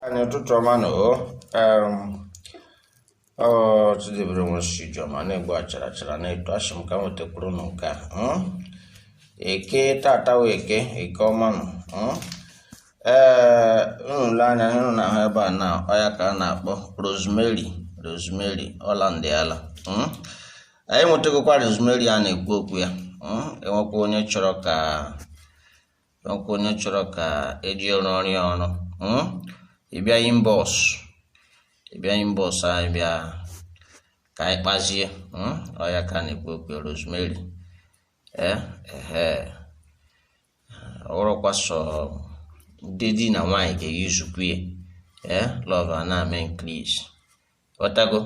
anyị ụtụtụ ọma nụ o ọchidebere nwe sijiọma a na-egbu achara achara na-eto asị m ka m wetakwuru unu nke a mm? eke tata wụ eke eke ọma nụ mm? ee unu le anya unu na-ahụ ebe a na ọ ya ka a na-akpọ rosemary rosemary ọ landiala mm? anyị nwetagokwa rosemary a na-ekwu okwu ya mm? e nwekwa onye chọrọ ka kwa onye chọrọ ka e ji ya rụọrọ ya ọrụ hmm? ị bịa inbox ị bịa inbox anyị bịa ka anyị kpazie hmm? ọ ya ka a na-ekwu okwu rosemary ee ehe ọ rọkwa sọ ndị di na nwunye ga-eusekwu ya ee lover na-eme cleanse ọtago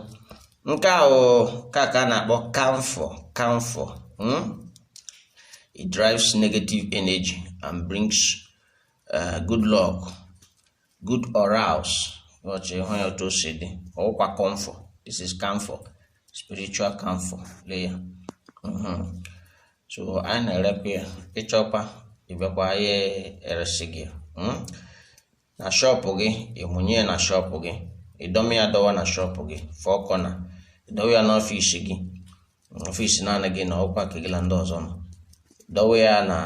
nke a wụ ka ka a na-akpọ camphor camphor hmm? it drives negative energy and brings uh, good luck good auras ọchị hụ ya otu o si dị ọ wụkwa camphor this is camphor spiritual camphor lee ya Mhm. so anyị na-erekwa ya ị chọkwa ị bịakwa ya e resị gị ya. Hmm? na shop gị ị mụnye ya na shop gị ị dọmi ya dọwa na shop gị four corner ị dọwa ya n'office gị office naanị gị nọ ọ kwa nke gị na ndị ọzọ nọ dọwa ya na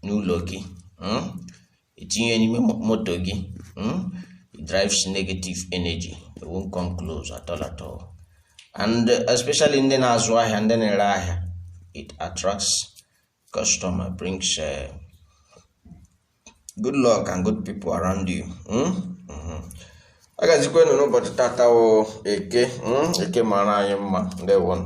n'ụlọ gị mm? i tinye ya n'ime mo- moto gị mm? it drives negative energy it won't come close at all at all and especially ndị na-azụ ahịa ndị na-ere ahịa it attracts customer brings good luck and good people around you hmm? Mhm. ya gazikwaanụ n'ụbọchị tata wụ eke hmm? eke maara anyị mma ndewonụ